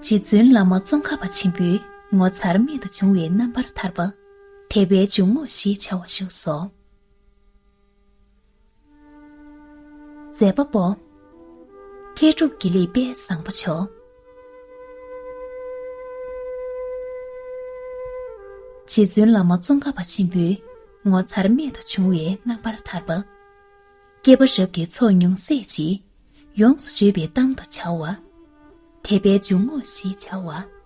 རྗེ་བཙུན་བླ་མ་ཙོང་ཁ་པ་ཆེན་པོའི་ངོ་མཚར་རྨད་དུ་བྱུང་བའི་རྣམ་པར་ཐར་པ་དད་པའི་འཇུག་ངོགས་ཞེས་བྱ་བ་བཞུགས་སོ། མཛད་པ་པོ། མཁས་གྲུབ་དགེ་ལེགས་དཔལ་བཟང་པོ་མཆོག། རྗེ་བཙུན་བླ་མ་ཙོང་ཁ་པ་ཆེན་པོའི་ངོ་མཚར་རྨད་དུ་བྱུང་བའི་རྣམ་པར་ཐར་པ། བསྐལ་པ་རབ་ཀྱི་ཚོགས་ཉུང་ཟད་ཅིག། ཡོངས་སུ་བརྗོད་པའི་གཏམ་དུ་བྱ་བ། དད་པའི་འཇུག་ངོགས་ཞེས་བྱ་བ།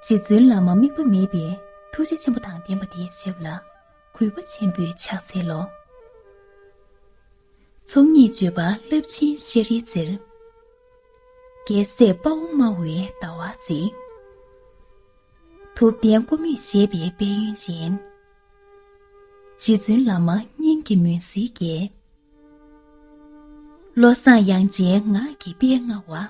རྗེ་བཙུན་བླ་མ་དམིགས་པ་མེད་པའི་ཐུགས་རྗེ་ཆེན་པོ་དང་ལྡན་པ་དེའི་ཞབས་ལ་གུས་པ་ཆེན་པོས་ཕྱག་འཚལ་ལོ། ཚོགས་གཉིས་སྤྱོད་པ་རླབས་ཆེན་ཤཱ་རིའི་རྩེར། རྒྱལ་སྲས་དཔའ་བོ་སྨྲ་བའི་ལྟ་བ་མཛེས། ཐུབ་བསྟན་ཀུ་མུད་བཞད་པའི་དཔལ་ཡོན་ཅན། རྗེ་བཙུན་བླ་མ་སྙིང་གི་མུན་སེལ་རྒྱལ། བློ་བཟང་དབྱངས་ཅན་ངག་གི་དཔལ་མངའ་བ།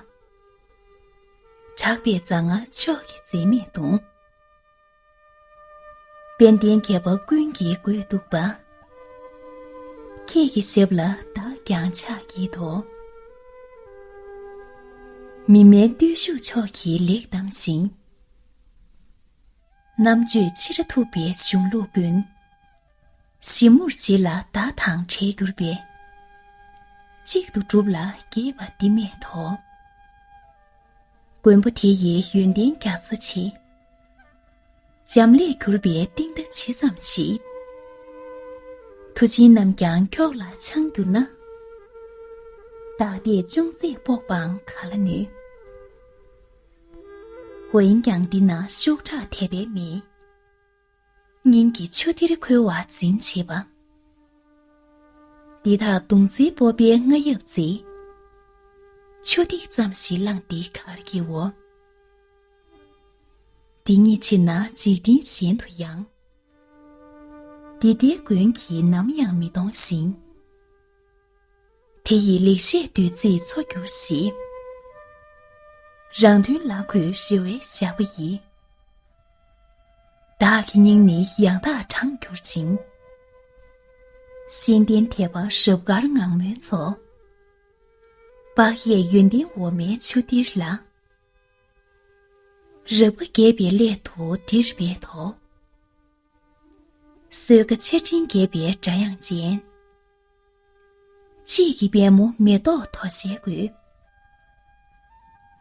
གྲགས་པའི་མཛངས་མ་མཆོག་གི་འཛིན་མེད་གདུང། དཔལ་ལྡན་མཁས་པ་ཀུན་གྱིས་བཀུར་འདུག་པ། ཁྱེད་ཀྱི་ཞབས་ལ་བདག་ཀྱང་ཕྱག་བགྱིད་དོ། མི་དམན་བརྟུལ་ཞུགས་མཆོག་གིས་ལེགས་བསྡམས་ཤིང། རྣམ་དཔྱོད་ཕྱི་ར་ཐུབ་པའི་གཞུང་ལུགས་ཀུན། ཞིབ་མོར་བྱེད་ལ་བདག་དང་བྲལ་གྱུར་པའི། གཅིག་ཏུ་བསྒྲུབ་ལ་རྒྱས་པ་འདི་མེད་དོ། མགོན་པོ་དེ་ཡི་ཡོན་ཏན་རྒྱ་མཚོ་ཆེ། འབྱམས་ཀླས་གྱུར་པའི་གཏིང་མཐའ་ཇི་ཙམ་ཞིག། མཐུ་ཆེན་རྣམས་ཀྱང་ཁྱོགས་ལ་འཆང་གྱུར་ན། བདག་ལྟས་ཅུང་ཟད་དཔོག་པའང་ག་ལ་ནུས། འོན་ཀྱང་འདི་ན་ཤོག་ཁྲག་དད་པའི་མིས། སྙིང་གི་ཆུ་གཏེར་ཁོལ་བ་འཛིན་བྱེད་པ། འདི་དག་དུང་ཟིའི་སྤོབས་པའི་རྔ་ཡབ་རྩེ། ཆུ་ཐིགས་ཙམ་ཞིག་བླངས་འདི་གར་གྱིའོ། འདི་ཉིད་ཕྱིན་ན་འཇིག་རྟེན་གཞན་དུ་ཡང། འདི་ལྟའི་མགོན་གྱིས་ནམ་ཡང་མི་གཏོང་ཞིང། དེ་ཡི་ལེགས་བཤད་བདུད་རྩིས་འཚོ་གྱུར་ཞིག། རང་མདུན་ལ་གོས་ཞི་བའི་ཞགས་པ་ཡིས། བདག་གི་སྙིང་ནི་ཡང་དག་དྲངས་གྱུར་ཅིང། གཤེན་བསྟན་དད་པ་ཞབས་དཀར་ངང་མོའི་ཚོགས། དཔག་ཡས་ཡོན་ཏན་འོ་མའི་ཆུ་གཏེར་ལ། རབ་དགའ་དགྱེས་པའི་སླད་དུ་འདིར་འབད་དོ། སོས་ཀ་ཆར་སྤྲིན་འགྱེད་པའི་སྒྲ་དབྱངས་ཅན། དཔྱིད་ཀྱི་དཔལ་མོ་མེ་ཏོག་དོ་ཤལ་དགོད།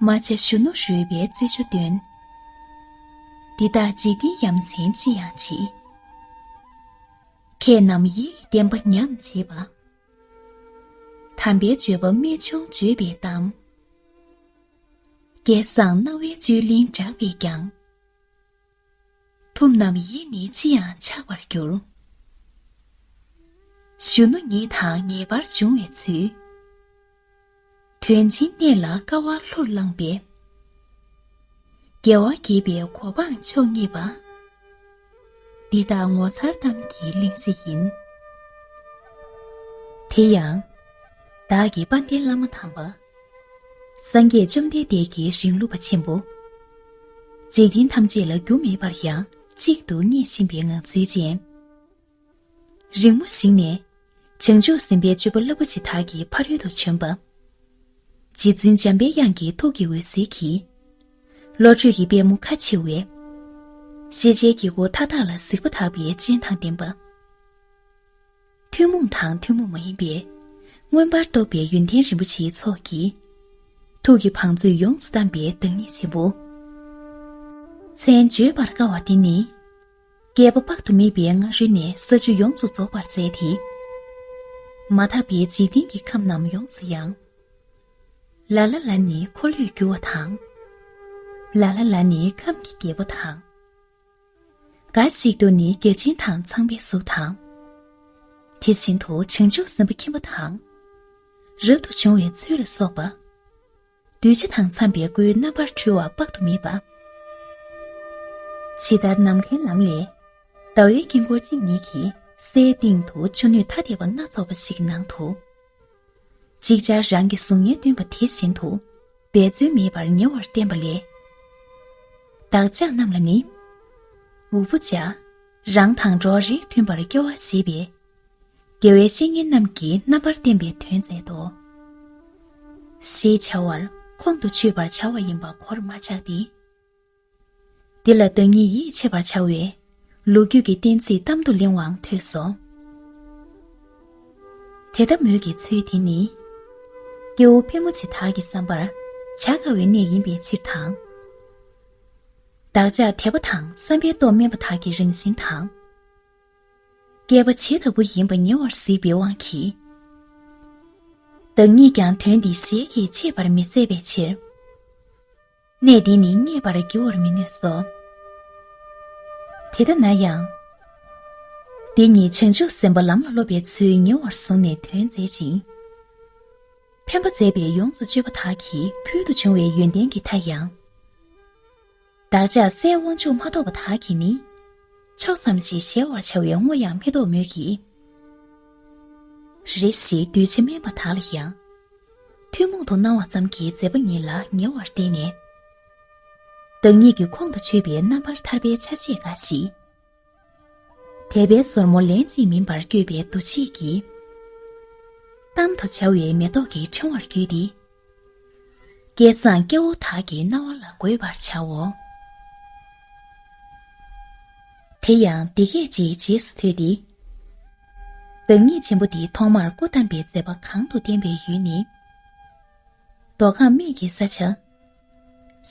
རྨ་བྱ་གཞོན་ནུ་རོལ་པའི་རྩེད་འཇོ་སྟོན། འདི་དག་འཇིག་རྟེན་ཡ་མཚན་ཅི་ཡང་མཆིས། མཁས་རྣམས་ཡིད་ཀྱི་བརྟན་པ་ཉམས་བྱེད་པ། དམ་པའི་སྤྱོད་པ་རྨད་བྱུང་བརྗོད་པའི་གཏམ། སྐལ་བཟང་རྣ་བའི་བཅུད་ལེན་བསྒྲགས་པས་ཀྱང། ཐུབ་རྣམས་ཡིད་ནི་ཅི་ཡང་ཆགས་པར་འགྱུར། གཞོན་ནུ་ཉིད་དང་ངེས་པར་འབྱུང་བའི་ཚུལ། དོན་སྦྱིན་གནས་ལ་དཀའ་བ་ལྷུར་བླངས་པས། རྒྱལ་བ་དགྱེས་པའི་གོ་འཕང་མཆོག་བརྙེས་པ། འདི་དག་ངོ་མཚར་གཏམ་གྱི་གླེང་གཞི་ཡིན། དེ་ཡང། བདག་གི་དཔའ་ལྡན་བླ་མ་དམ་པ། སངས་རྒྱས་བཅོམ་ལྡན་འདས་ཀྱི་ཞིང་བསླུ་བ་ཆེན་པོ། འཇིག་རྟེན་ཐམས་ཅད་ལ་རྒྱུ་མེད་པར་ཡང་གཅིག་ཏུ་བརྙེས་བཞིན་པའི་ངང་ཚུལ་ཅན། རིང་མོ་ཞིག་ནས་བྱང་ཆུབ་སེམས་དཔའི་སྤྱོད་པ་རླབས་པོ་ཆེ་དག་གི་ཕ་རོལ་ཏུ་བྱོན་པ། རྗེ་བཙུན་འཇམ་པའི་དབྱངས་ཀྱི་ཐུགས་ཀྱི་འོད་ཟེར་གྱིས། བློ་གྲོས་ཀྱི་པད་མོ་ཁ་ཕྱེ་བས། ཤེས་བྱའི་དཀྱིལ་འཁོར་མཐའ་དག་ལ་གཟིགས་པ་དག་པའི་སྤྱན་དང་ལྡན་པ། ཐུན་མོང་དང་ཐུན་མོང་མ་ཡིན་པའི། མངོན་པར་རྟོགས་པའི་ཡོན་ཏན་རིན་པོ་ཆེའི་ཚོགས་ཀྱིས། ཐུགས་ཀྱི་བང་མཛོད་ཡོངས་སུ་གཏམས་པའི་བདག་ཉིད་ཆེན་པོ། མཚན་བརྗོད་པར་དཀའ་བ་འདི་ནི། བསྐལ་པ་དཔག་ཏུ་མེད་པའི་སྔ་རོལ་ནས་ས་བཅུ་ཡོངས་སུ་རྫོགས་པར་མཛད་དེ། མ་དག་པའི་འཇིག་རྟེན་གྱི་ཁམས་རྣམས་ཡོངས་སུ་ཡང། ལ་ལ་ལ་ནི་འཁོར་ལོས་སྒྱུར་བ་དང། ལ་ལ་ལ་ནི་ཁམས་ཀྱི་རྒྱལ་པོ་དང། འགའ་ཞིག་ཏུ་ནི་རྒྱལ་ཆེན་དང་ཚངས་པའི་གཟུགས་དང། དེ་བཞིན་དུ་བྱང་ཆུབ་སེམས་དཔའ་ཁྱིམ་པ་དང། རབ་ཏུ་བྱུང་བའི་ཚུལ་ལ་སོགས་པ། གདུལ་བྱ་དང་འཚམས་པའི་སྐུའི་རྣམ་པར་འཕྲུལ་བ་དཔག་ཏུ་མེད་པ། ཇི་ལྟར་ནམ་མཁའི་ལམ་ལས། ཟླ་བའི་དཀྱིལ་འཁོར་གཅིག་ཉིད་ཀྱི་སའི་སྟེང་དུ་ཆུ་སྣོད་ཐ་དད་པ་སྣ་ཚོགས་པ་ཞིག་གི་ནང་དུ། ཅིག་ཅར་རང་གི་གཟུགས་བརྙན་སྟོན་པ་དེ་བཞིན་དུ་འབད་རྩོལ་མེད་པར་ཉེ་བར་བསྟན་པ་ལས། བདག་ཅག་རྣམས་ལ་ནི། འུ་བུ་ཅག་རང་དང་འགྲོགས་རེག་མཐུན་པར་སྐྱོ་བ་ཞེས་པའི་དགེ་བའི་བཤེས་གཉེན་རྣམས་ཀྱིས་རྣམ་པར་བསྟན་པའི་དོན་མཛད་དོ། ཞེས་བྱ་བར་ཁོང་དུ་ཆུད་པར་བྱ་བ་ཡིན་པ་གོར་མ་ཆག་སྟེ། འདི་ལ་བདག་ཉིད་ཡིད་ཆེས་པར་བྱ་བའི། ལོ་རྒྱུས་ཀྱི་གཏན་ཚིགས་གཏམ་དུ་གླེང་བའང་ཐོས་སོ། དེ་ལྟ་མོད་ཀྱི་ཚུལ་དེ་ནི། སྐྱེ་བོ་ཕལ་མོ་ཆེ་དག་གིས་བསམ་པར་བྱ་དཀའ་བའི་གནས་ཡིན་པའི་ཕྱིར་དང། བདག་ཅག་དད་པ་དང་བསམ་པའི་སྟོབས་དམན་པ་དག་གི་རང་བཞིན་དང། བསྐལ་པ་ཇི་ལྟ་བུ་ཡིན་པ་ཉེ་བར་གཟིགས་པའི་དབང་གིས། བདག་ཉིད་ཀྱང་དོན་འདི་ཞལ་གྱིས་འཆེས་པར་མི་མཛད་པའི་ཕྱིར། གནས་འདི་ནི་རྙེད་པར་འགྱུར་བར་མི་ནུས་སོ། དེ་ལྟ་ན་ཡང། འདི་ཉིད་བྱང་ཆུབ་སེམས་དཔའ་ལམ་ལ་སློབ་པའི་ཚུལ་ཉེ་བར་བཟུང་ནས་དོན་མཛད་ཅིང། ཕན་པ་མཛད་པས་ཡོངས་སུ་སྤྱོད་པ་དག་གིས་ཕུལ་དུ་བྱུང་བའི་ཡོན་ཏན་གྱི་མཐའ་ཡང། བདག་ཅག་སའི་དབང་ཕྱུག་མ་གཏོགས་པ་དག་གིས་ནི། ཕྱོགས་ཙམ་ཞིག་གཞལ་བར་བྱ་བའི་བསྔོ་ཡང་མི་ལྡོག་མོད་ཀྱི། རེ་རེ་ཞིག་གདུལ་བྱ་དམན་པ་དག་ལ་ཡང། ཐུན་མོང་དུ་སྣང་བ་ཙམ་གྱི་མཛད་པ་ཉིད་ལ་ཉེ་བར་བསྟན་ནས། བདག་ཉིད་ཀྱི་ཁོང་དུ་ཆུད་པའི་རྣམ་པར་ཐར་པའི་ཆ་ཤས་འགའ་ཞིག། དད་པའི་སོར་མོ་ལན་གཅིག་མིན་པར་བསྐྱོད་པའི་འདུ་ཤེས་ཀྱིས། གཏམ་དུ་བྱ་བའི་མེ་ཏོག་གི་ཕྲེང་བར་བརྒྱུས་ཏེ། སྐལ་བཟང་སྐྱེ་བོ་དག་གི་རྣ་བ་ལ་དགོད་པར་བྱའོ། དེ་ཡང་འདི་སྐད་ཅེས་རྗེས་སུ་ཐོས་ཏེ། བདག་ཉིད་ཆེན་པོ་འདི་ཐོག་མར་སྐུ་བལྟམས་པའི་མཛད་པ་གང་དུ་བསྟན་པའི་ཡུལ་ནི། མདོ་ཁམས་སྨད་ཀྱི་ས་ཆ།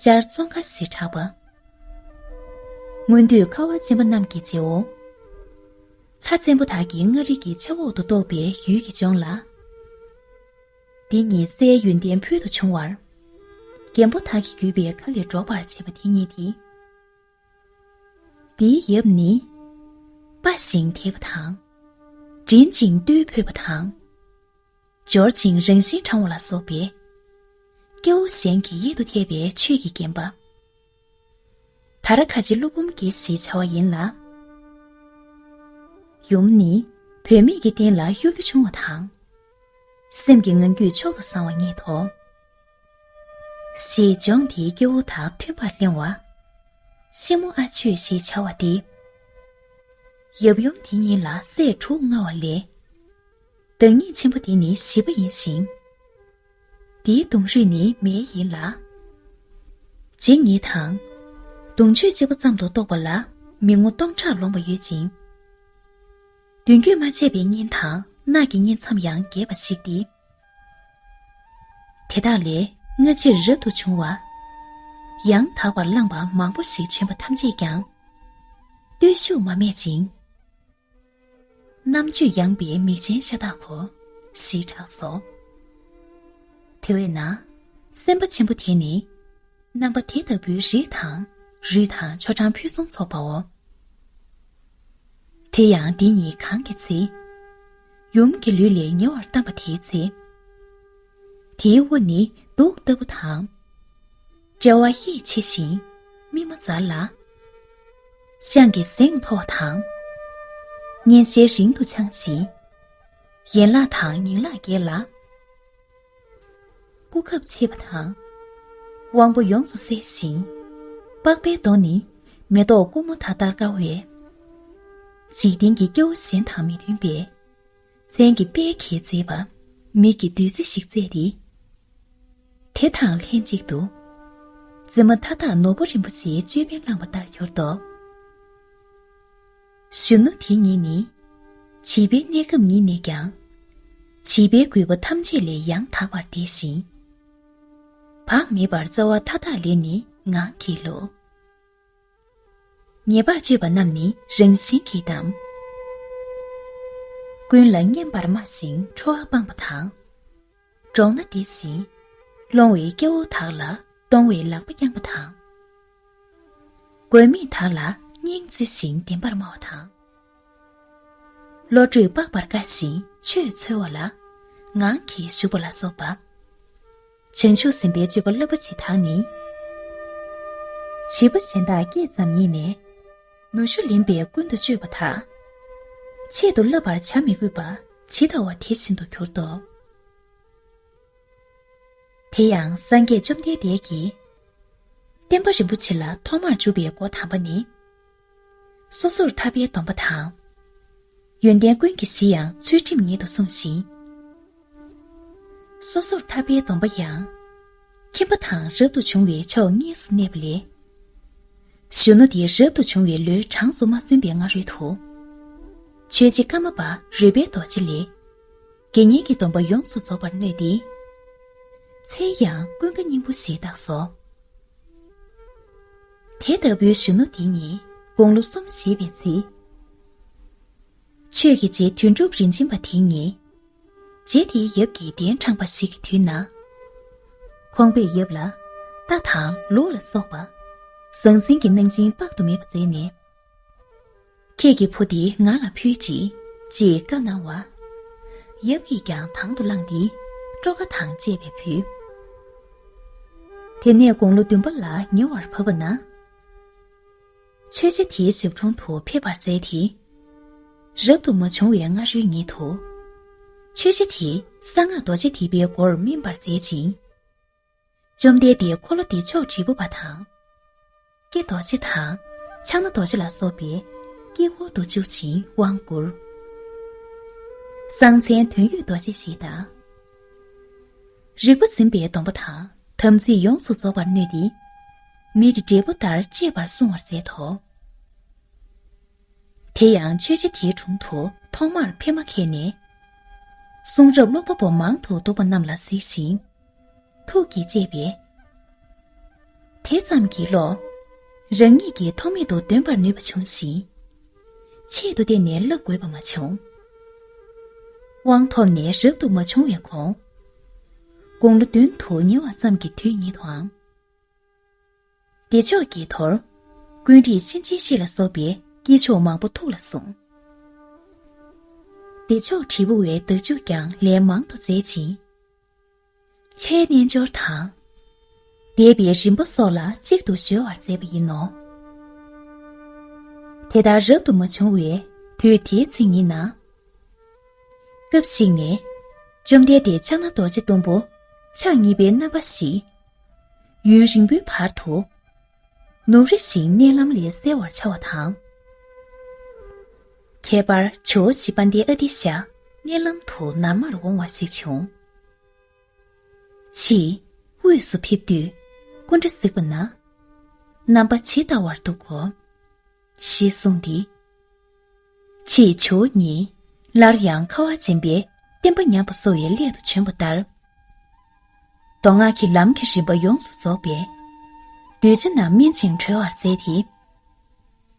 ཤར་ཙོང་ཁ་ཞེས་གྲགས་པ། སྔོན་དུས་ཁ་བ་ཅན་པ་རྣམས་ཀྱི་རྗེའོ། ལྷ་བཙན་པོ་དག་གི་མངའ་རིས་ཀྱི་ཆབ་འོག་ཏུ་གཏོགས་པའི་ཡུལ་གྱི་ལྗོངས་ལ། འདི་ཉིད་སའི་ཡོན་ཏན་ཕུལ་དུ་བྱུང་བར། རྒན་པོ་དག་གི་བརྒྱུད་པའི་མཁའ་ལས་སྒྲོགས་པར་བྱེད་པ་དེ་ཉིད་དེ། འདིའི་ཡབ་ནི། སྤ་ཞིང་དེད་པ་དང། འདྲེན་ཅིང་རྟུལ་ཕོད་པ་དང། འབྱོར་ཅིང་རང་བཞིན་དྲང་བ་ལ་སོགས་པའི། སྐྱེ་བོ་གཞན་གྱི་ཡིད་དུ་འཐད་པའི་ཆོས་ཀྱིས་བརྒྱན་པ། ད་ར་ག་ཆེ་ཀླུ་འབུམ་རྒྱལ་ཞེས་བྱ་བ་ཡིན་ལ། ཡུམ་ནི་བུད་མེད་ཀྱི་རྟེན་ལ་གཡོ་སྒྱུ་ཆུང་བ་དང། སེམས་ཀྱི་ངང་རྒྱུད་མཆོག་ཏུ་བཟང་བ་རྙེད་དོ། ཞེས་ལྗོངས་འདིའི་སྐྱེ་བོ་དག་མཐུན་པར་གླེང་བ། ཤིང་མོ་ཨ་ཆོས་ཞེས་བྱ་བ་སྟེ། ཡབ་ཡུམ་དེ་གཉིས་ལ་སྲས་དྲུག་མངའ་བ་ལས། བདག་ཉིད་ཆེན་པོ་འདི་ནི་བཞི་པ་ཡིན་ཞིང། འདིའི་གདུང་རུས་ནི་མེའི་ཡིན་ལ། རྗེ་ཉིད་དང། གདུང་མཆོད་གཅིག་པ་ཙམ་དུ་གཏོགས་པ་ལ་མི་ངོ་སྟོང་ཕྲག་ལོངས་པ་ཡོད་ཅིང། བདུན་རྒྱུད་མ་ཆད་པའི་གཉེན་དང་ནགས་ཀྱི་གཉེན་མཚམས་ཡང་རྒྱས་པ་ཞིག་སྟེ། དེ་དག་ལས་སྔ་ཕྱིར་རབ་ཏུ་བྱུང་བ། ཡང་དག་པར་བླངས་པ་མང་པོ་ཞིག་བྱོན་པ་ཐམས་ཅད་ཀྱང། བརྟུལ་ཞུགས་མ་སྨད་ཅིང། རྣམ་དཔྱོད་ཡངས་པའི་མིག་ཅན་ཤ་སྟག་གོ། ཞེས་གྲགས་སོ། དེ་བས་ན། སེམས་དཔའ་ཆེན་པོ་དེ་ནི། རྣམ་པ་དེ་ལྟ་བུའི་རིགས་དང། རུས་དང་ཆོ་འབྲང་ཕུན་སུམ་ཚོགས་པའོ། དེ་ཡང་འདི་ཉིད་གང་གི་ཚེ། ཡུམ་གྱི་ལུས་ལས་ཉེ་བར་བལྟམས་པ་དེའི་ཚེ། དེའི་དབུ་ནི་གདུགས་ལྟ་བུ་དང། དཔྲལ་བ་ཡིད་ཆེས་ཤིང་སྨིན་མ་འཛར་ལ། ཤངས་ཀྱི་གཟེངས་ཐོགས་དང། སྙན་ཤལ་རིང་དུ་འཕྱང་ཞིང། ཡན་ལག་དང་ཉིང་ལག་བརྒྱད་ལ། སྐུ་ཁབ་ཕྱེད་པ་དང། དབང་པོ་ཡོངས་སུ་གསལ་ཞིང། པགས་པའི་མདོག་ནི་མེ་ཏོག་ཀུ་མུ་ད་ལྟར་དཀར་བས། འཇིག་རྟེན་གྱི་སྐྱེ་བོ་གཞན་དང་མི་མཐུན་པས། མཚན་གྱི་དཔལ་གྱིས་མཛེས་པ། མིག་གི་བདུད་རྩི་ཞིག་བསྩལ་ཏེ། དེ་དང་ལྷན་ཅིག་ཏུ། རྩི་མ་མཐའ་དག་ནོར་བུ་རིན་པོ་ཆེའི་ཅོད་པན་བླངས་པ་ལྟར་གྱུར་ཏོ། གཞོན་ནུ་དེ་ཉིད་ནི། བྱིས་པའི་གནས་སྐབས་ཉིད་ནས་ཀྱང། བྱིས་པའི་རྒུད་པ་ཐམས་ཅད་ལས་ཡང་དག་པར་འདས་ཤིང། བག་མེད་པར་རྩ་བ་མཐའ་དག་ལས་ནི་ངང་གིས་ལུས། ཉེས་པར་སྤྱོད་པ་རྣམས་ནི་རང་བཞིན་གྱིས་བསྡམ། ཀུན་ལ་སྙན་པར་སྨྲ་ཞིང་ཁྲོ་བ་སྤངས་པ་དང། འགྲོགས་ན་བདེ་ཞིང། སློང་བའི་སྐྱེ་བོ་དག་ལ་གཏོང་བའི་ལག་པ་བརྐྱང་པ་དང། མགོན་མེད་དག་ལ་སྙིང་བརྩེ་ཞིང་བདེན་པར་སྨྲ་བ་དང། བློ་གྲོས་དཔག་པར་དཀའ་ཞིང་ཆོས་འཚོལ་བ་ལ། ངང་གིས་བཞུགས་པ་ལ་སོགས་པ། བྱང་ཆུབ་སེམས་དཔའི་སྤྱོད་པ་སློབ་པ་བྱེད་དང་ནི། བྱིས་པ་གཞན་དག་སྐད་ཙམ་ཉིད་ནས། ནུ་ཞོ་ལེན་པས་ཀུན་དུ་སྤྱོད་པ་དང། ཆེད་དུ་བསླབ་པར་བྱ་མི་དགོས་པ་ཇི་ལྟ་བ་དེ་བཞིན་དུ་གྱུར་ཏོ། དེ་ཡང་སངས་རྒྱས་བཅོམ་ལྡན་འདས་ཀྱིས། བསྟན་པ་རིན་པོ་ཆེ་ལ་ཐོག་མར་འཇུག་པའི་སྒོ་དམ་པ་ནི། སོ་སོར་ཐར་པའི་སྡོམ་པ་དང། ཡོན་ཏན་ཀུན་གྱི་གཞི་ཡང་ཚུལ་ཁྲིམས་ཉིད་དུ་བསྲུང་ཞིང། སོ་སོར་ཐར་པའི་སྡོམ་པ་ཡང། ཁྱིམ་པ་དང་རབ་ཏུ་བྱུང་བའི་ཕྱོགས་གཉིས་སུ་གནས་པ་ལས། གཞོན་ནུ་དེ་རབ་ཏུ་བྱུང་བའི་ལོའི་གྲངས་སུ་མ་སོན་པའི་སྔ་རོལ་དུ། ཆོས་རྗེ་ཀརྨ་པ་རོལ་པའི་རྡོ་རྗེ་ལས། དགེ་བསྙེན་གྱི་སྡོམ་པ་ཡོངས་སུ་རྫོགས་པར་མནོས་ཏེ། མཚན་ཡང་ཀུན་དགའ་སྙིང་པོ་ཞེས་བཏགས་སོ། དེ་ལྟ་བུའི་གཞོན་ནུ་དེ་ནི་དགུང་ལོ་གསུམ་བཞེས་པའི་ཚེ། ཆོས་ཀྱི་རྗེ་དོན་གྲུབ་རིན་ཆེན་པ་དེ་ཉིད། རྗེ་དེའི་ཡབ་ཀྱི་གདན་དྲངས་པ་ཞིག་གི་དུས་ན། ཁོང་པའི་ཡབ་ལ་རྟ་དང་ལུག་ལ་སོགས་པ། ཟང་ཟིང་གི་གནང་སྦྱིན་དཔག་ཏུ་མེད་པ་མཛད་ནས་ཁྱེད་ཀྱི་ཕོ་འདི་ང་ལ་ཕུལ་ཅིག། ཅེས་བཀའ་གནང་བ། ཡབ་ཀྱིས་ཀྱང་དང་དུ་བླངས་ཏེ་སྤྲོ་དགའ་དང་བཅས་པས་ཕུལ། དེ་ནས་དགུང་ལོ་བདུན་པ་ལ་ཉེ་བར་བབས་པ་ན། མཆོད་ཆ་དེའི་ཞབས་དྲུང་དུ་ཕེབས་པར་མཛད་དེ། རབ་ཏུ་མ་བྱུང་བའི་སྔ་རོལ་ཉིད་དུ། མཆོད་ཆ་དེས་གསང་སྔགས་རྡོ་རྗེ་ཐིག་པའི་སྒོར་སྨིན་པར་མཛད་ཅིང། བཅོམ་ལྡན་འདས་འཁོར་ལོ་འདི་ཕྱོགས་དྲིལ་བུ་པ་དང། ཀྱེ་རྡོ་རྗེ་དང། ཕྱག་ན་རྡོ་རྗེ་ལ་སོགས་པས་དཀྱིལ་འཁོར་དུ་བཅུག་ཅིང་དབང་བསྐུར། གསང་མཚན་དོན་ཡོད་རྡོ་རྗེ་ཞེས་དང། རིག་པ་འཛིན་པའི་སྡོམ་པ་དང་དམ་ཚིག་ཡོངས་སུ་རྫོགས་པར་མནོས་ཏེ། མིག་གི་འབྲས་བུ་ལྟར་གཅེས་པར་བསྲུང་བར་མཛད་དོ། དེ་ཡང་ཆོས་རྗེ་དེའི་དྲུང་དུ་ཐོག་མར་ཕེབས་མ་ཁད་ནས། གསུང་རབ་ཀློག་པ་པོ་མང་དུ་འདུག་པ་རྣམས་ལ་གཟིགས་ཤིང། ཐུགས་ཀྱི་བཅས་པས། དེ་ཙམ་གྱིས་ལོག། རང་ཉིད་ཀྱིས་ཐོགས་མེད་དུ་འདོན་པར་ནུས་པ་བྱུང་ཞིང། ཆེད་དུ་བསྟན་ནས་བསླབ་དགོས་པ་མ་བྱུང། དབང་ཐོབ་ནས་རབ་ཏུ་མ་བྱུང་བའི་གོང། དགུང་ལོ་བདུན་དུ་ཉེ་བ་ཙམ་གྱི་དུས་ཉིད་དུའང། བདེ་མཆོག་གི་དོར། ཀུན་རིག་གཤིན་རྗེའི་གཤེད་ལ་སོགས་པའི་དཀྱིལ་ཆོག་མང་པོ་ཐུགས་ལ་བཟུང། བདེ་མཆོག་དྲིལ་བུ་བའི་བདག་འཇུག་ཀྱང་ལན་མང་དུ་མཛད་ཅིང། ལྷའི་རྣལ་འབྱོར་དང། བཟླས་པའི་རིམ་པ་སོགས་ལ་གཅིག་ཏུ་གཞོལ་བར་མཛད་པ་ཡིན་ནོ། དེ་ལྟར་རབ་ཏུ་མ་བྱུང་བའི་དུས་དེའི་ཚེ་ཉིད་ན། སྐབས་ཤིག་ནས་བཅོམ་ལྡན་འདས་ཕྱག་ན་རྡོ་རྗེ་གཏུམ་པོ་ཕྱག་གཉིས་པའི་རྣམ་པ་བཞིས། ཡུན་རིང་པོའི་བར་དུ། ནུབ་རི་བཞིའི་གནས་ལམ་ལས་གསལ་བར་འཆར་བ་དང། ཁྱད་པར་ཇོ་བོ་བཞི་པ་འདི་ཨ་ཏི་ཤ་གནས་ལམ་དུ་ནར་མར་འོང་བ་ཞིག་བྱུང། ཕྱིས་དབུས་སུ་ཕེབས་དུས་སྐུ་འདྲ་གཟིགས་པ་ན། རྣམ་པ་ཇི་ལྟ་བར་འདུག་གོ། ཞེས་གསུངས་ཏེ། ཅེས་ཇོ་བོ་ཉིད་སླར་ཡང་ཁ་བ་འབྱིན་པའི་བསྟན་པ་ཉམས་པ་གསོ་བའི་སླད་དུ་བྱོན་པ་ལྟར། མདོ་སྔགས་ཀྱི་ལམ་གྱི་རིམ་པ་ཡོངས་སུ་རྫོགས་པས་གདུལ་བྱ་རྣམས་སྨིན་ཅིང་གྲོལ་བར་མཛད་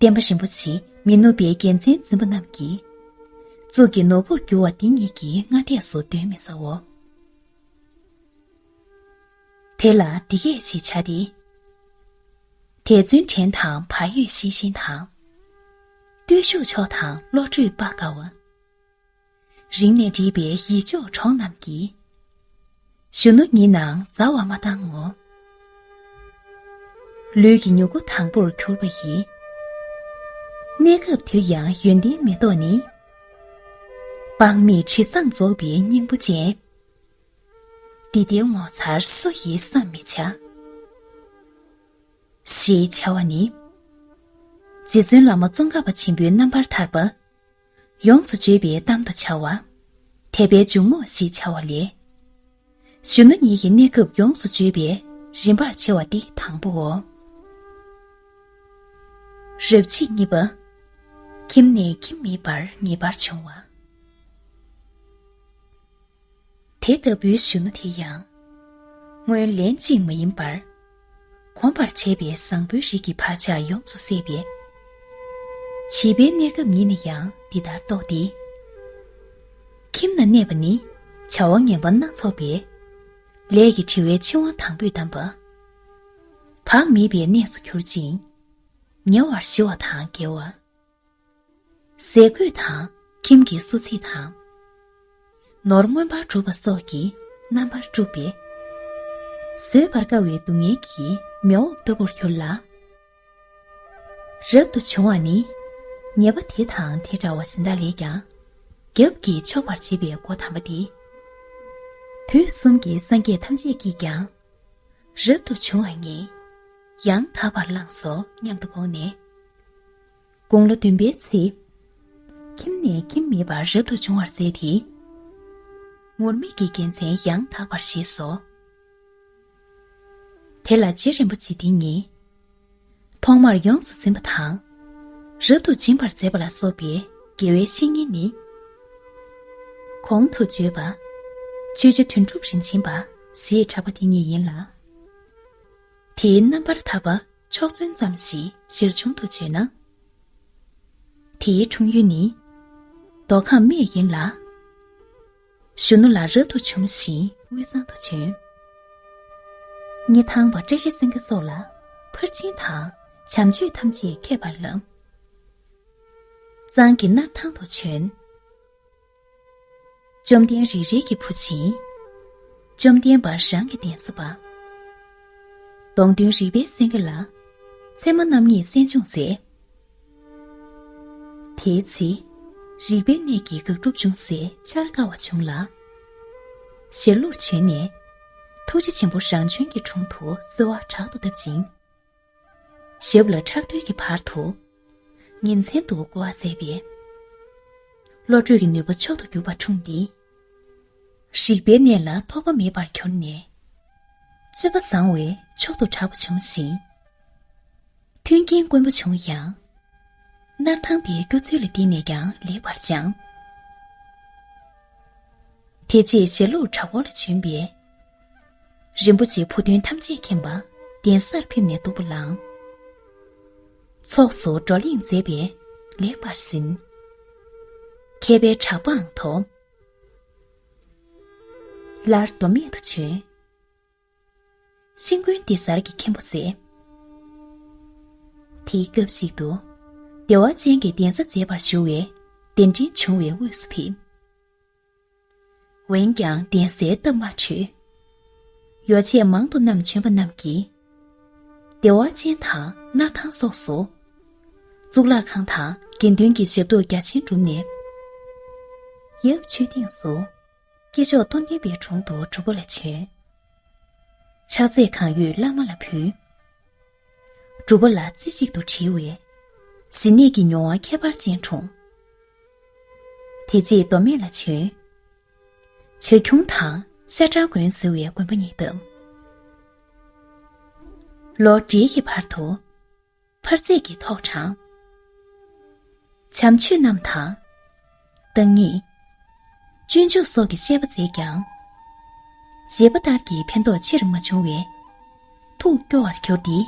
དེ། བསྟན་པ་རིན་པོ་ཆེ་མི་ནུབ་པའི་རྒྱལ་མཚན་འཛིན་པ་རྣམས་ཀྱི་གཙུག་གི་ནོར་བུར་གྱུར་བ་འདི་ཉིད་ཀྱི་སྔ་ལྟས་སུ་གདོན་མི་ཟའོ། དེ་ལ་འདི་སྐད་ཅེས་བྱ་སྟེ། དད་བརྩོན་དྲན་དང་བག་ཡོད་ཤེས་བཞིན་དང། བརྟུལ་ཞུགས་མཆོག་དང་བློ་གྲོས་དཔའ་དགའ་བ། རིང་ནས་འདྲིས་པའི་ཡིད་འཇོག་གྲོགས་རྣམས་ཀྱིས། གཞོན་ནུ་ཉིད་ནང་མཛའ་བ་མ་བཏང་ངོ། ལུས་ཀྱི་མྱུ་གུ་དང་པོར་གྱུར་པ་ཡི། གནས་སྐབས་འདིར་ཡང་ཡོན་ཏན་མེ་ཏོག་ནི། དཔག་མེད་དྲི་བཟང་རྫོགས་པའི་སྙིང་པོ་ཅན། འདི་དེའི་ངོ་མཚར་སུ་ཡིས་བསམ་མི་བྱ། ཞེས་བྱ་བ་ནི། རྗེ་བཙུན་བླ་མ་ཙོང་ཁ་པ་ཆེན་པོའི་རྣམ་པར་ཐར་པ། ཡོངས་སུ་བརྗོད་པའི་གཏམ་དུ་བྱ་བ། དད་པའི་འཇུག་ངོགས་ཞེས་བྱ་བ་ལས། གཞོན་ནུ་ཉིད་ཀྱི་གནས་སྐབས་ཡོངས་སུ་བརྗོད་པའི་རིམ་པར་ཕྱེ་བ་འདི་དང་པོའོ། རབ་བྱེད་གཉིས་པ། ཁྱིམ་ནས་ཁྱིམ་མེད་པར་ངེས་པར་འབྱུང་བ། དེ་ལྟ་བུའི་གཞོན་ནུ་དེ་ཡང། སྔོན་ལན་གཅིག་མ་ཡིན་པར། གོམས་པར་བྱས་པས་བཟང་པོའི་རིགས་ཀྱི་བག་ཆགས་ཡོངས་སུ་སད་པས། བྱིས་པའི་གནས་སྐབས་ཉིད་ནས་ཡང་འདི་ལྟར་རྟོགས་ཏེ། ཁྱིམ་ན་གནས་པ་ནི་བྱ་བ་ངན་པ་སྣ་ཚོགས་པས། ལས་ཀྱི་བྲི་བའི་འཆིང་བ་དང་པོས་བསྡམས་པ། བག་མེད་པའི་གནས་སུ་གྱུར་ཅིང། ཉེ་བར་ཞི་བ་དང་འགལ་བ། ཟས་གོས་དང་ཁྱིམ་གྱི་གསོ་ཚིག་དང། ནོར་མངོན་པར་འགྲུབ་པ་སོགས་ཀྱིས་རྣམ་པར་དཀྲུགས་པས། བཟོད་པར་དཀའ་བའི་སྡུག་བསྔལ་གྱི་མེ་འོབས་ལྟ་བུར་གྱུར་ལ། རབ་ཏུ་བྱུང་བ་ནི་ཉེས་པ་དེ་དང་དེ་འདྲ་བ་ཇི་འདྲ་ལས་ཀྱང་རྒྱབ་ཀྱིས་ཕྱོགས་པར་བྱེད་པའི་སྒོ་དམ་པ་སྟེ། དུས་གསུམ་གྱི་སངས་རྒྱས་ཐམས་ཅད་ཀྱིས་ཀྱང་རབ་ཏུ་བྱུང་བ་ཉིད་ཡང་དག་པར་བླངས་སོ་སྙམ་དུ་དགོངས་ནས། དགུང་ལོ་བདུན་པའི་ཚེ། ཁྱིམ་ནས་ཁྱིམ་མེད་པར་རབ་ཏུ་བྱུང་བར་མཛད་དེ། ངུར་སྨྲིག་གི་རྒྱལ་མཚན་ཡང་དག་པར་བཞེས་སོ། དེ་ལ་རྗེ་རིན་པོ་ཆེ་འདི་ཉིད། ཐོག་མར་ཡོངས་སུ་འཛིན་པ་དང། རབ་ཏུ་སྦྱིན་པར་མཛད་པ་ལ་སོགས་པའི་དགེ་བའི་བཤེས་གཉེན་ནི། གོང་དུ་བརྗོད་པ། ཆོས་རྗེ་དོན་གྲུབ་རིན་ཆེན་པ་ཞེས་གྲགས་པ་འདི་ཉིད་ཡིན་ལ། དེའི་རྣམ་པར་ཐར་པ། ཕྱོགས་མཚོན་ཙམ་ཞིག་གཞིར་བྱུང་དུ་བརྗོད་ན། དེའི་འཁྲུངས་ཡུལ་ནི་མདོ་ཁམས་སྨད་ཡིན་ལ། གཞོན་ནུ་ལ་རབ་ཏུ་བྱུང་ཞིང་དབུས་གཙང་དུ་བྱོན། རྙེད་ཐང་བ་བཀྲ་ཤིས་སེང་གེ་སོགས་ལ་ཕར་ཕྱིན་དང་བྱམས་ཆོས་ཐམས་ཅད་མཁས་པར་བསླབས། གཙང་གི་སྣར་ཐང་དུ་བྱོན། བཅོམ་ལྡན་རིག་རལ་གྱི་བུ་བྱིན། བཅོམ་ལྡན་འབར་བྱང་གི་གདན་ས་པ། གདོང་མདུན་རིག་པའི་སེང་གེ་ལ། མཚན་མ་རྣམ་གཉིས་གསན་སྦྱོང་མཛད། དེའི་ཚེ། རིག་པའི་གནས་ཀྱི་དགག་སྒྲུབ་ཅུང་ཟད་འཆར་དཀའ་བ་བྱུང་ལ། ཞལ་ལུར་བྱོན་ནས། ཐུགས་རྗེ་ཆེན་པོ་རང་བྱོན་གྱི་དྲུང་དུ་གསོལ་བ་དྲག་ཏུ་བཏབ་ཅིང། ཞབས་ལ་ཁྲག་ཐུལ་གྱི་བར་དུ། ཉིན་མཚན་དུ་བསྐོ་བ་མཛད་པས། བློ་གྲོས་ཀྱི་ནུས་པ་མཆོག་ཏུ་གྱུར་པ་འཁྲུངས་ཏེ། རིག་པའི་གནས་ལ་ཐོགས་པ་མེད་པར་གྱུར་ནས། རྩོད་པ་བཟང་བས་མཆོག་ཏུ་གྲགས་པ་བྱུང་ཞིང། མཐུན་རྐྱེན་དཀོན་པོ་བྱུང་ཡང། སྣར་ཐང་པའི་སྐྱོ་ཚུལ་ལ་བརྟེན་ནས་ཀྱང་ལེགས་པར་སྦྱངས། དེ་རྗེས་ཞྭ་ལུགས་བྲག་འོག་ལ་བྱོན་པས། རིན་པོ་ཆེའི་ཕུགས་འདུན་ཐམས་ཅད་མཁྱེན་པ། གདན་སར་ཕེབས་ནས་འདུག་པ་ལགས། ཚོགས་སུ་བགྲོ་གླེང་མཛད་པས་ལེགས་པར་ཟིན། མཁས་པའི་གྲགས་པའང་ཐོབ། སླར་མདོ་སྨད་དུ་བྱོན། ཤིང་དགོན་སྡེ་གཟར་གྱི་མཁན་པོ་མཛད། དེའི་སྐབས་ཤིག་ཏུ། བདེ་བ་ཅན་གྱི་གདན་ས་མཛེས་པར་ཞུ་བས་གདན་འདྲེན་བྱུང་བའི་དབུས་སུ་ཕེབས། འོན་ཀྱང་གདན་སའི་སྟབས་མ་འཕྲོད། ཡོ་བྱད་མང་དུ་བསྣམས་བྱོན་པ་རྣམས་ཀྱིས། བདེ་བ་ཅན་དང་སྣར་ཐང་སོགས་སུ། གཙུག་ལག་ཁང་དང་དགེ་འདུན་གྱི་ཞབས་ཏོག་རྒྱ་ཆེན་བསྒྲུབས་ནས། ཡབ་ཆོས་སྡིངས་སུ། སྐྱེ་མཆོག་སྟོང་བསྟན་པའི་དྲུང་དུ་གྲུབ་པོ་ལ་བྱོན། ཕྱག་རྫས་གང་ཡོད་བླ་མ་ལ་ཕུལ། སྒྲུབ་པ་ལ་རྩེ་གཅིག་ཏུ་དྲིལ་བས། ཟིན་གནས་ཀྱི་མྱོང་བ་ཁྱད་པར་ཅན་འཁྲུངས། དེ་རྗེས་མདོ་སྨད་ལ་བྱོན། བྱ་ཁྱུང་དང་ཤ་ཁྲག་དགོན་ཟེར་བའི་དགོན་པ་གཉིས་བཏབ། ལོ་འབྲེལ་གྱི་བར་དུ་འཕར་རྩེག་གི་ཐོག་དྲངས། བྱམས་ཆོས་རྣམས་དང། བདག་ཉིད། སྤྱོད་འཇུག་སོགས་ཀྱི་བཤད་པ་མཛད་ཀྱང། བཞེད་པ་ལྟར་གྱི་ཕན་ཐོགས་ཆེར་མ་བྱུང་བས། ཐུགས་སྐྱོ་བར་གྱུར་ཏེ།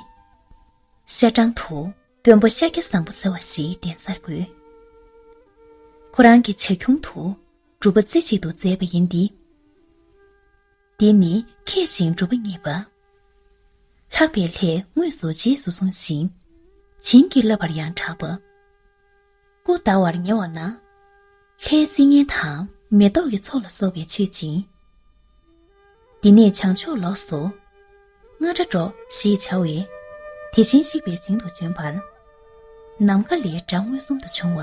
ཤར་གྲངས་དུ་དཔོན་པོ་ཤཱཀྱ་བཟང་པོ་ཟེར་བ་ཞིག་གདན་སར་བསྐོས། ཁོ་རང་གི་བྱ་ཁྱུང་དུ་སྒྲུབ་པ་རྩེ་གཅིག་ཏུ་མཛད་པ་ཡིན་ཏེ། འདི་ནི་མཁས་ཤིང་གྲུབ་པ་བརྙེས་པ། ལྷག་པའི་ལྷས་དངོས་སུ་རྗེས་སུ་བཟུང་ཞིང། བྱིན་གྱིས་བརླབས་པར་ཡང་གྲགས་པ། སྐུ་བལྟ་བར་ཉེ་བ་ན། ལྷའི་སིལ་སྙན་དང་མེ་ཏོག་གི་ཚོགས་ལ་སོགས་པས་མཆོད་ཅིང། འདི་ནས་བྱང་ཕྱོགས་ལོགས་སུ། རྔ་སྒྲ་སྒྲོགས་ཞེས་བྱ་བས། དེ་བཞིན་གཤེགས་པའི་ཞིང་དུ་བྱོན་པར། ནམ་མཁའ་ལས་སྒྲ་མངོན་སུམ་དུ་བྱུང་བ།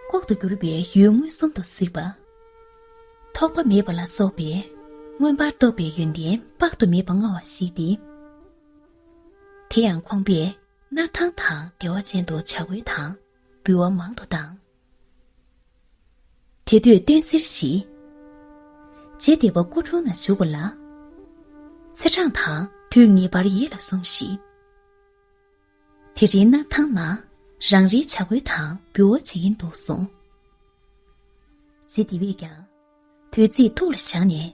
ལྐོག་ཏུ་གྱུར་པའི་ཡུལ་མངོན་སུམ་དུ་གཟིགས་པ། ཐོགས་པ་མེད་པ་ལ་སོགས་པས་མངོན་པར་རྟོགས་པའི་ཡོན་ཏན་དཔག་ཏུ་མེད་པ་མངའ་བ་ཞིག་སྟེ། དེ་ཡང་ཁོང་པས། སྣར་ཐང་དང་བདེ་བ་ཅན་དུ་བྱ་རྒོད་དང་འབུལ་བ་མང་དུ་བཏང། དེ་དུས་སྟོན་གསེར་བཞི། རྗེ་འདི་པ་སྐུ་དྲུང་ན་བཞུགས་པ་ལ། ཚེ་འབྲང་དང་དུས་ངེས་པར་ཡིད་ལ་ཟུངས་ཤིག། དེ་རིང་སྣར་ཐང་ན་རང་རེའི་བྱ་རྒོད་དང་འབུལ་བ་བྱེད་ཀྱིན་འདུག་གསུངས། རྗེ་འདི་པས་ཀྱང་དུས་ཚིགས་ཐུགས་ལ་བཞག་ནས།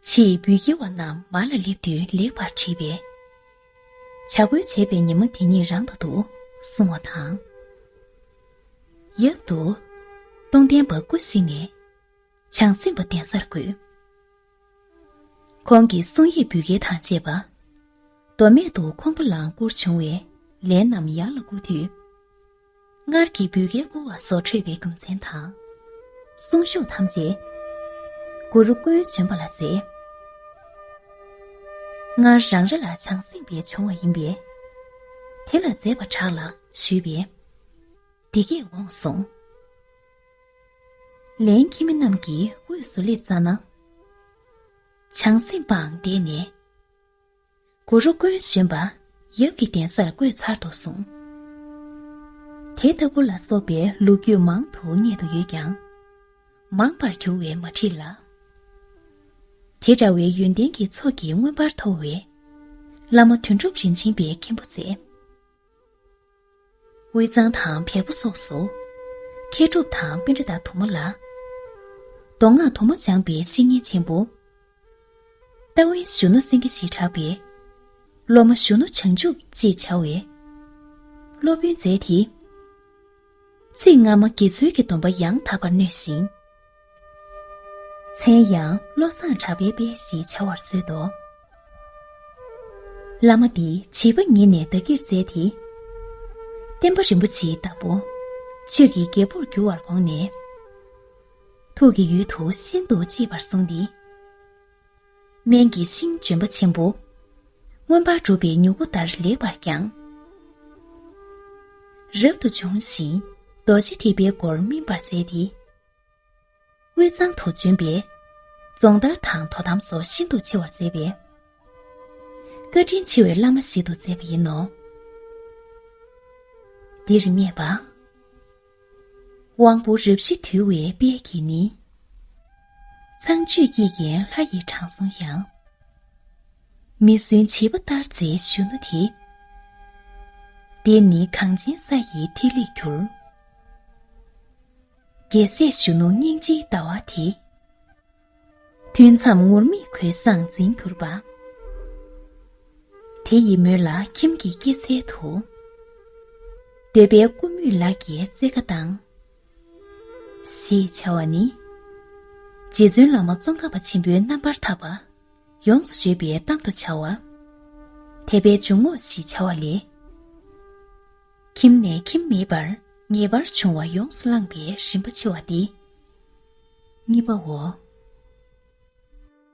ཕྱིས་འབུལ་སྐྱེལ་བ་རྣམས་མར་ལ་སླེབས་དུས་ལེགས་པར་དྲིས་པས། བྱ་རྒོད་བྱས་པའི་ཉི་མ་དེ་ཉིད་རང་དུ་འདུག་གསུང་བ་དང། ཡབ་ཏུ། སྟོང་ལྡན་འབག་སྐུ་གཟིགས་ནས། བྱང་སེམས་པ་གདན་སར་འགོད། ཁོང་གི་གསུང་ཡིག་འབུལ་སྐྱེལ་དང་བཅས་པ། མདོ་སྨད་དུ་ཁོང་པོ་ལང་བསྐུར་བྱུང་བས་ལན་རྣམས་ཡར་ལ་བསྐུར་དུས། སྔར་གྱི་འབུལ་དགེ་བསྐུར་བ་སོགས་འཁྲུལ་པའི་རྒྱུ་མཚན་དང། གསུང་གཞུག་ཐམས་ཅད་གུ་རུ་ཀུན་གཞོན་པ་ལ་མཛད། སྔར་རང་རེ་ལ་བྱང་སེམས་པའི་བྱུང་བ་ཡིན་པས། དེ་ལ་མཛད་པར་གྲགས་ལ་ཞུས་པས། འདི་སྐད་འོངས་གསུང། ལན། ཁྱིམ་མི་རྣམས་ཀྱི་དབུས་སུ་སླེབ་ཙམ་ན། བྱང་སེམས་པའང་བསྡད་ནས། གུ་རུ་མགོན་གཞོན་པ་ཡབ་ཀྱི་གདན་སར་བཀོད་ཚར་འདུག་གསུངས། དེ་ལྟ་བུ་ལ་སོགས་པའི་ལུགས་རྒྱུད་མང་དུ་རྙེད་དུ་ཡོད་ཀྱང། མང་པར་གྱུར་བས་མ་བྲིས་ལ། དེ་འདྲ་བའི་ཡོན་ཏན་གྱི་ཚོགས་ཀྱིས་མངོན་པར་མཐོ་བའི། བླ་མ་དོན་གྲུབ་རིན་ཆེན་པའི་མཁན་པོ་ཚེ། དབུས་གཙང་དང་བལ་པོ་སོགས་སུ། མཁས་གྲུབ་དང་དཔོན་རི་དྭགས་དུ་མ་ལ། མདོ་སྔགས་དུ་མ་སྦྱངས་པའི་བཤེས་གཉེན་ཆེན་པོ། ལྟ་བས་བཞུགས་ན་སེང་གེ་ཞེས་གྲགས་པའི། སློབ་མ་བཞུགས་ན་བྱང་ཆུབ་ཅེས་བྱ་བའི། སློབ་དཔོན་མཛད་དེ། ཚིག་སྔ་མ་དགེ་ཚུལ་གྱི་སྡོམ་པ་ཡང་དག་པར་ནོས་ཤིང། མཚན་ཡང་བློ་བཟང་གྲགས་པའི་དཔལ་ཞེས་བྱ་བར་གསོལ་ཏོ། བླ་མ་འདི་བྱིས་པ་ཉིད་ནས་བདག་གིར་མཛད་དེ། བསྟན་པ་རིན་པོ་ཆེའི་བདག་པོ། ཆོས་ཀྱི་རྒྱལ་པོར་འགྱུར་བར་དགོངས་ནས། ཐུགས་ཀྱི་ཡུལ་དུ་ཤིན་ཏུ་གཅེས་པར་བཟུང་སྟེ། སྨན་གྱི་ཤིང་ལྗོན་པ་ཆེན་པོ། མངོན་པར་འགྲུབ་པའི་མྱུ་གུ་ལྟར་ལེགས་པར་བསྐྱངས། རབ་ཏུ་བྱུང་ཞིང་རྡོ་རྗེ་ཐེག་པའི་སྒོར་སྨིན་པར་མཛད་དེ། དབུས་གཙང་དུ་བྱོན་པས། རྫོང་དར་དང་དོ་དམ་སོགས་ཤིན་ཏུ་ཆེ་བར་མཛད་པས། བཀའ་དྲིན་ཆེ་བའི་བླ་མ་ཞིག་ཏུ་མཛད་པ་ཡིན་ནོ། འདིར་སྨྲས་པ། དབང་པོ་རབ་ཞི་དུལ་བའི་དཔལ་གྱིས་ནི། ཚངས་སྤྱོད་སྐྱེས་རྒན་ལྷ་ཡི་དྲང་སྲོང་ཡང། མི་བསྲུན་བྱིས་པ་ལྟར་མཛད་གཞོན་ནུ་དེ། འདིར་ནི་གངས་ཅན་ས་ཡི་ཐིག་ལེ་གྱུར། རྒྱལ་སྲས་གཞོན་ནུ་སྙིང་རྗེའི་ལྟ་བ་དེ། ཐུན་མཚམས་ངུར་སྨྲིག་གོས་བཟང་འཛིན་གྱུར་པ། དེ་ཡི་མོད་ལ་ཁྱིམ་གྱི་སྐྱེད་ཚལ་དུ། འདོད་པའི་ཀུ་མུད་ལག་གི་རྩེ་ཁ་དང། ཞེས་བྱ་བ་ནི། རྗེ་བཙུན་བླ་མ་ཙོང་ཁ་པ་ཆེན་པོའི་རྣམ་པར་དག་པ། ཡོངས་སུ་བརྗོད་པའི་གཏམ་དུ་བྱ་བ། དད་པའི་འཇུག་ངོགས་ཞེས་བྱ་བ་ལས། ཁྱིམ་ནས་ཁྱིམ་མེད་པར་ངེས་པར་འབྱུང་བ་ཡོངས་སུ་བླངས་པའི་རིམ་པ་ཕྱེ་བ་སྟེ་གཉིས་པའོ།